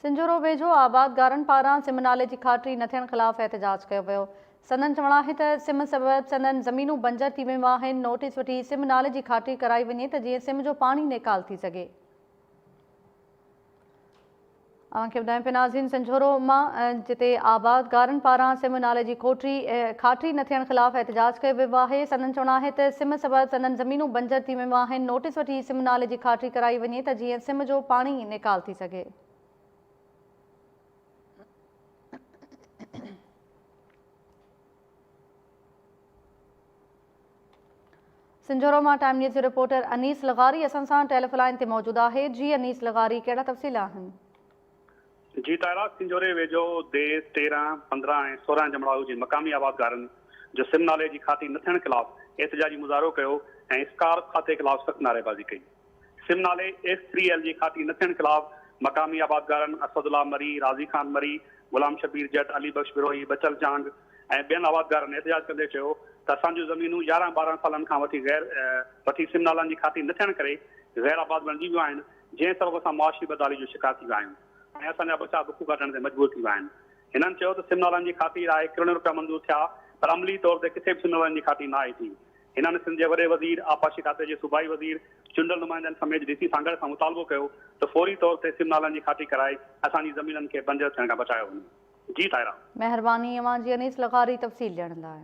سنجهورو ويجهو آبادگارن پاران سم نالي جي کاٽري نه ٿيڻ خلاف احتجاج ڪيو ويو، سندن چوڻ آهي ته سم سبب سندن زمينون بنجر ٿي ويون آهن، نوٽيس وٺي سم نالي جي کاٽري ڪرائي وڃي ته جيئن سم جو پاڻي نيڪال ٿي سگهي. اوهان کي ٻڌايون پيا ناظرين سنجهورو مان جتي آبادگارن پاران سم نالي جي کوٽري کاٽري نه ٿيڻ خلاف احتجاج ڪيو ويو آهي، سندن چوڻ آهي ته سم سبب سندن زمينون بنجر ٿي ويون آهن، نوٽيس وٺي سم نالي جي کاٽري ڪرائي وڃي ته جيئن سم جو پاڻي نيڪال سگهي. سنجهورو مان ٽائيم نيوز جو رپورٽر انيس لغاري اسان سان ٽيلف لائن تي موجود آهي جي انيس لغاري ڪهڙا تفصيل آهن. جي طاهرا سنجهوري ويجهو ديس تيرهن، پندرهن ۽ سورهن جمڙائو جي مقامي آبادگارن جو سم نالي جي کاتي نه ٿيڻ خلاف احتجاجي مظاهرو ڪيو ۽ اسڪارف کاتي خلاف سخت نعريبازي ڪئي. سم نالي ايس ٿري ايل جي کاتي نه ٿيڻ خلاف مقامي آبادگارن اسد الله مري، راضي خان مري، غلام شبير جٽ، علي بخش بروهي، بچل چانگ ۽ ٻين آبادگارن احتجاج ڪندي چيو ته اسان جون زمينون يارهن ٻارهن سالن کان وٺي غير وٺي سم نالن جي کاتي نه ٿيڻ ڪري غير آباد بڻجي ويون آهن جنهن سبب اسان معاشي بدحالي جو شڪار ٿي ويا آهيون ۽ اسان جا ٻچا بک ڪاٽڻ تي مجبور ٿي ويا آهن. هنن چيو ته سم نالن جي کاتي لاء ڪروڙين روپيا منظور ٿيا پر عملي طور تي ڪٿي به سم نالن جي کاتي نه آئي ٿي هنن سنڌ جي وڏي وزير، آبپاشي کاتي جي صوبائي وزير، چونڊل نمائندن سميت ڊي سي سانگهڙ کان مطالبو ڪيو ته فوري طور تي سم نالن جي کاٽي ڪرائي اسان جي زمينن کي بنجر ٿيڻ کان بچايو وڃي. جي طاهرا. مهرباني اوهان جي انيس لغاري تفصيل ڏيڻ لاء.